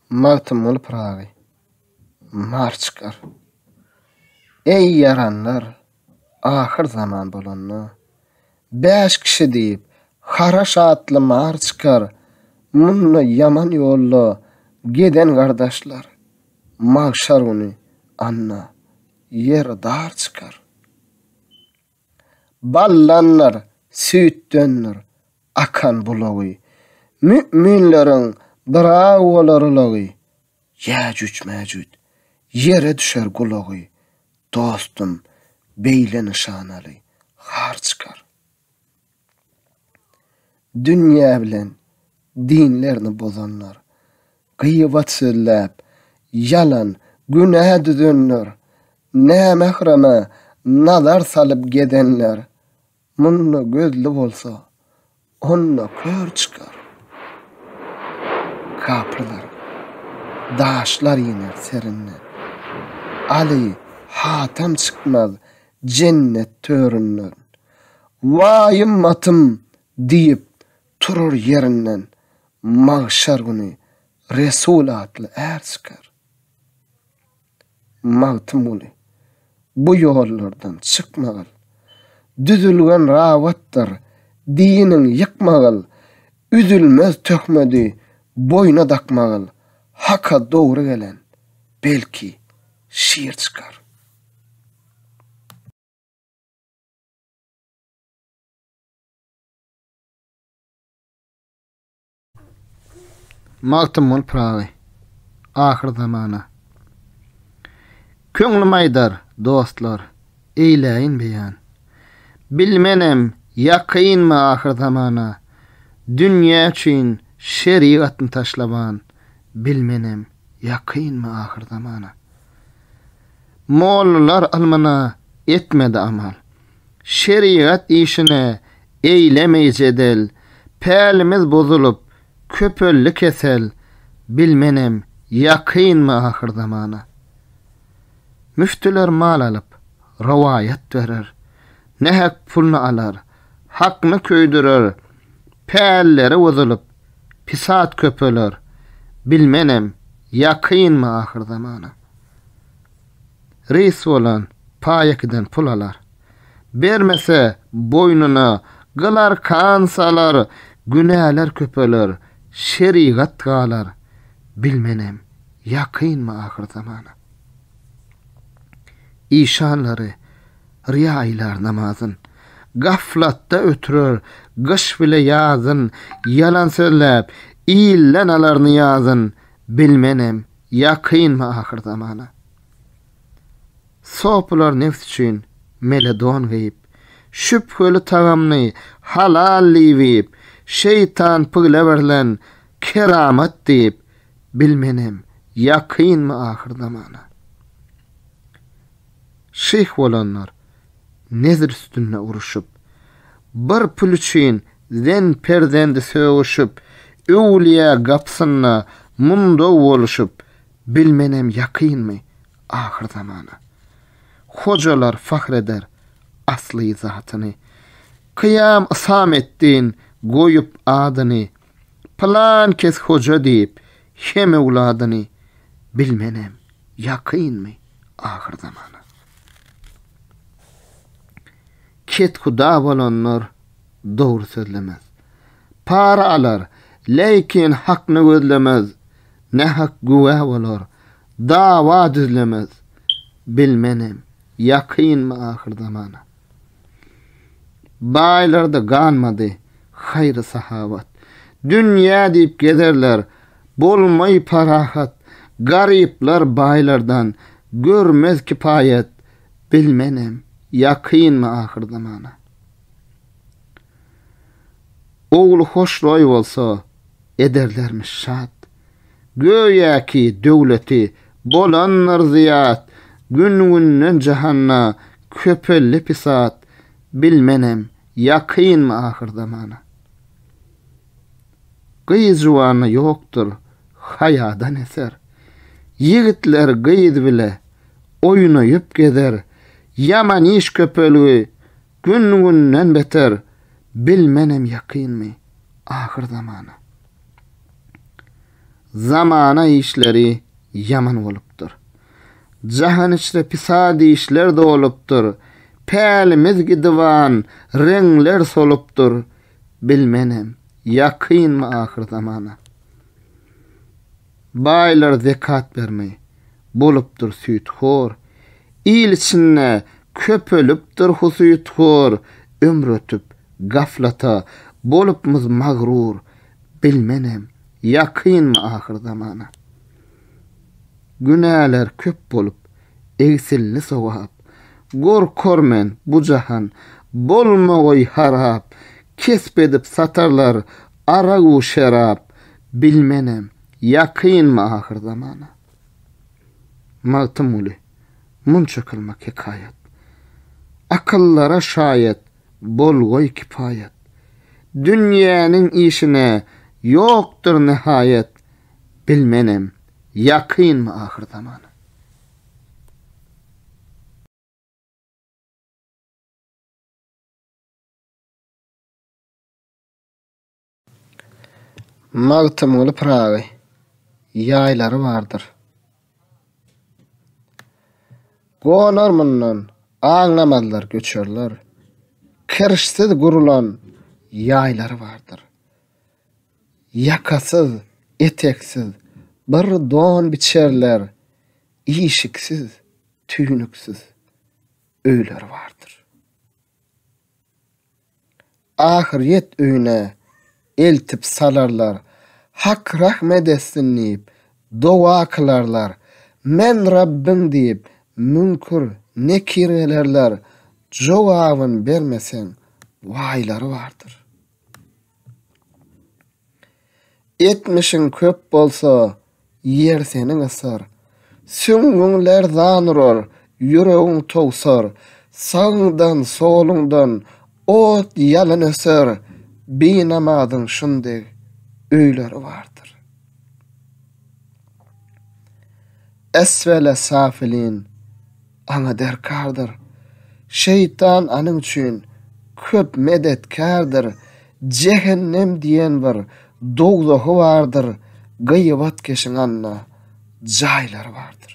Magtymguly Pyragy. Mar çykar. Eý ýaranlar, ahyr zaman bolanda, bäş kişi diýip, haraş atly mar çykar, munda ýaman ýolda geden gardaşlar, magşar güni, anna, ýer dar çykar. Ballandyr, süýtdendir akan bulagy, Mü'minleriň bir-aw bolar ulagy, Ýäjüj-Mäjüj, ýere düşer gulagy, Dostum, beýle nyşanaly, har çykar. Dünýä bilen dinlerini bozanlar, gyýbat sözläp, ýalan, günä düzenler, nämährama nazar salyp gezenler, munda gözli bolsa, onda kör çykar. Kapyrlar daşlar iner serinden. Aly hatam çykmaz jennet töründen. Waýym matym diýip turar ýerinden, magşar güni Resul atly är çykar. Magtymguly, bu ýollardan çykmagyl. Düzülgen rawatdyr diniň ýykmagyl, üzülmez töhmedi boýna dakmagyl, Haka dogry gelen, belki, şir çykar. Magtymguly Pyragy Ahyr zamana Köňlüm aýdar, dostlar, eýläýin beýan. Bilmenem, ýakynmy ahyr zamana, Dünýä üçin şerigatny taşlaban, Bilmenem, ýakynmy ahyr zamana. Mollalar ylmyna etmedi amal. Şerigat işine eýlemeý jedel. Pälimiz bozulyp, köpeldi kesel. Bilmenem, ýakynmy ahyrzamana. Müftüler mal alyp, rowaýat berer. Nähak pulny alar, hakny köýdürer. Pälleri bozulyp, pisat köpeler. Bilmenem, ýakynmy ahyrzamana. Reýs bolan paýekiden pul alar. Bermese, boýnuna gyl-arkan salar, günäler köpeler, şerigat galar. Bilmenem, ýakynmy ahyr zamana. Işanlary rýa aýlar namazyn. Gaflatda ötürer gyş bile ýazyn, ýalan sözläp, ilden alar nyýazyn. Bilmenem, Ýakynmy ahyr zamana? Sopylar nebs üçin mele don geýip, şübheli tagamny halal diýip iýip, şeýtan pygle berlen keramat diýip, bil menem, ýakynmy ahyr zamana? Şyh bolanlar, Nezir üstünde uruşyp. Bir pul üçin zen perzendi sögüşip, öwlüýä gapysynda mundaw boluşyp, bilmenem ýakynmy ahyr zamana. Hojalar fahr eder asly zatyny. Kyýam Ysametdin goýup adyny, pylan kes hoja diýip hem öwladyny, bilmenem ýakynmy ahyr zamana. Kethuda bolanlar dogry sözlemez. Para alar, leýkin hakny gözlemez, nähak güwä bolar, dawa düzlemez. Bilmenem, ýakynmy ahyr zamana. Baýlarda galmady haýry-sahawat. Dünýä diýip gezerler, bolmaý parahat. Garyplar baýlardan görmez kipaýat. Bilmenem, ýakynmy ahyr zamana. Ogly hoşroý bolsa, ederlermiş şat. Göýäki döwleti bolandyr zyýat, Gün-günden jahanda köpeldi pisat, Bilmenem, ýakynmy ahyr zamana. Gyz juwanda ýokdur haýadan eser, Ýigitler gyz bile oýnaýyp gezer, Ýaman iş köpelgi, Gün-günden beter, bilmenem ýakynmy, ahyr zamana. Zamana işleri ýaman bolupdyr. Jahan içre pisat işler dolupdyr. Pälimiz gidiban, reňler solupdyr, bilmenem, ýakynmy ahyr zamana. Baýlar zekat bermeý. Bolupdyr süýthor. Il içinde köpelipdir husythor, Ömür ötüp, gaflata bolupmyz magrur, Bilmenem, ýakynmy ahyr zamana. Günäler köp bolup, egsildi sogap, Gorkar men, bu jahan bolmagoý harap, Kesp edip satarlar Aragu şerap, bilmenem, ýakynmy ahyr zamana? Magtymguly, munça kylmak hekaýat. Akyllara şaýat, bolgoý kipaýat. Dünýäniň işine, ýokdur nihaýat, bilmenem, ýakynmy ahyr zamana? Magtymguly Pyragy ýaýlary bardyr. Gonar mundan aňlamazlar göçerler. Kirşsiz gurulan ýaýlary bardyr. Ýakasyz, eteksiz bir don biçerler. Işiksiz, tüýnüksiz öýleri bardyr. Ahyryýet öýüne eltip salarlar. Hak rahmet etsin diýip, doga kylarlar. Men Rabbyň diýip, müňkür, nekir gelerler. Jogabyn bermeseň, waýlary bardyr. Etmişiň köp bolsa, ýer seniň ysar. Süňňüň lerzan urar, ýüregiň towsar. Sagyňdan, soluňdan ot ýalyn öser. Binamazyň şundeg öýleri bardyr. Esfele safilin. Aňa derkardyr. Şeýtan anyň üçin köp medetkärdir, jehennem diýen bir dowzahy bardyr, gyýbatkeşiň anda jaýlary bardyr.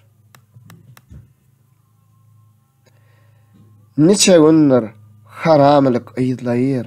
Niçe gündir haramylyk yzlaýyr,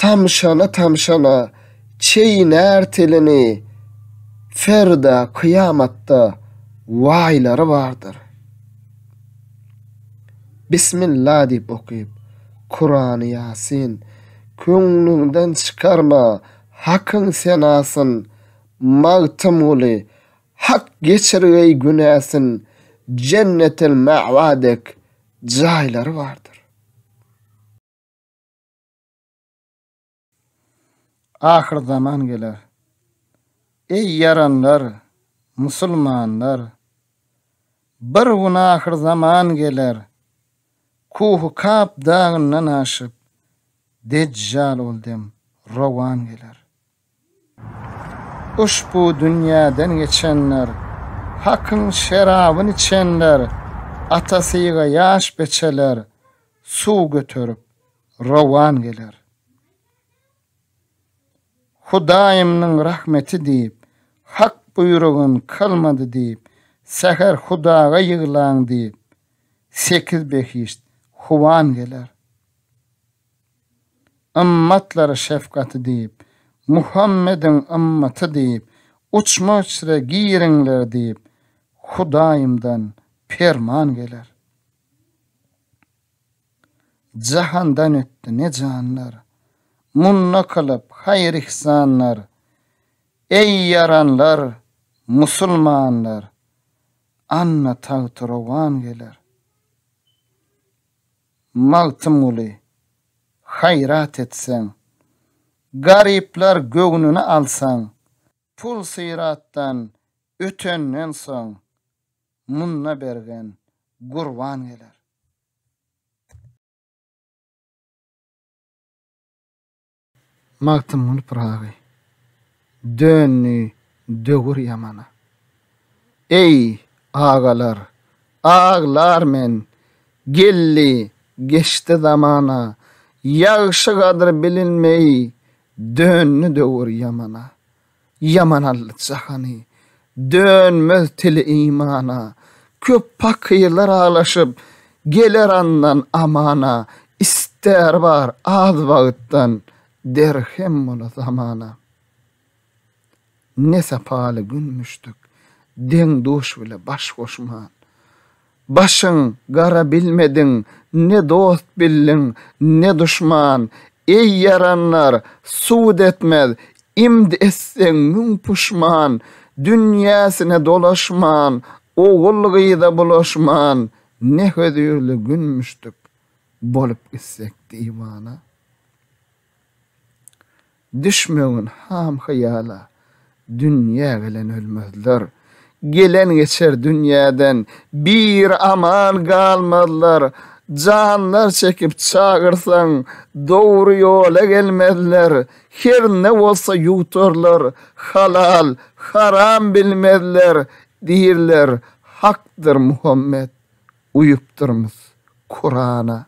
Tamşana-tamşana çeýnär tilini, Ferda kyýamatda waýlary bardyr. Bismilla diýip okyp, Kurany Ýasin, Köňlüňden çykarma Hakyň senasyn, Magtymguly, Hak geçirgeý günäsin, Jennetel-Mäwa dek jaýlary bardyr. Ahyrzaman geler. Eý, ýaranlar, musulmanlar! Bir gün ahyrzaman geler. Kuhu Kap dagyndan aşyp, Dejjal ol dem rowan geler. Uşbu dünýäden geçenler, Hakyň şerabyn içenler, Ata syga ýaş beçeler Suw göterip rowan geler. Hudaýymnyň rahmeti diýip, Hak buýrugyn kylmady diýip, Säher Hudaga ýyglaň diýip, Sekiz behişt howan geler. Ymmatlara şefgaty diýip, Muhammediň ymmaty diýip, uçma-uçra giriňler diýip, Hudaýymdan perman geler. Jahandan ötdi ne janlar, munda kylyp haýyr-yhsanlar, Eý, ýaranlar, musulmanlar, Anna tagty rowan geler. Magtymguly, haýrat etseň. Garyplar göwnüni alsaň, Pul-syratdan ötenden soň, Munda bergen gurban geler. Magtymguly Pyragy. Döndi döwür ýamana. Eý, agalar, aglar men, Geldi, geçdi zamana. Ýagşy gadyr bilinmeý, Döndi döwür ýamana. Ýaman aldy jahany, dönmez tili imana, Köp pakyrlar aglaşyp, geler andan amana, Ister bar az wagtdan, derhem bola zamana. Ne sapaly gün müşdük, deň-duş bile baş goşman. Başyň gara bilmediň, ne dost bildiň, ne duşman. Eý, ýaranlar, sud etmez, imd etseň müň puşman. Dünýäsine dolaşman, ogul-gyza bulaşman, ne hözirli gün müşdük, bolup gitsek diwana. Düşmegin ham-hyýala, dünýä gelen ölmezler, Gelen geçer dünýäden, bir aman galmazlar, Janlar çekip çagyrsaň, dogry ýola gelmezler, Her ne bolsa ýuwtarlar, halal, haram bilmezler, Diýirler, Hakdyr Muhammet, uýupdyrmys Kurana.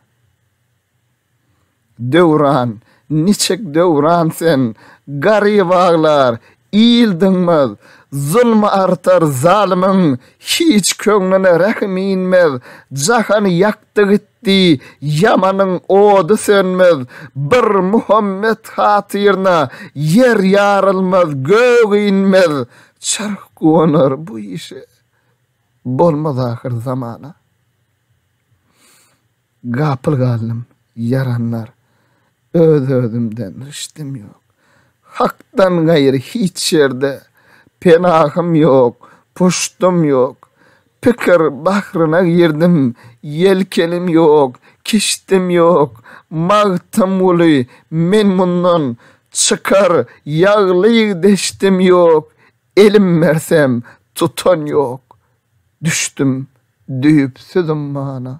Döwran, niçik Döwran sen? Garyp aglar, il dyňmaz. Zulmy artar zalymyň, hiç köňlüne rähim inmez. Jahany ýakdy gitdi, ýamanyň ody sönmez. Bir Muhammet hatyryna, ýer ýarylmaz, gök inmez. Çarh guwanar bu işe, bolmaz ahyr zamana. Gapyl galdym, ýaranlar. Öz-özümden rişdim ýok. Hakdan gaýry hiç ýerde penahym ýok, puşdum ýok. Pikir bahryna girdim, ýelkenim ýok, kişdim ýok. Magtymguly, men mundan çykar ýaglyk deşdim ýok. Elim bersem, tutan ýok. Düşdüm Düýpsüz ummana.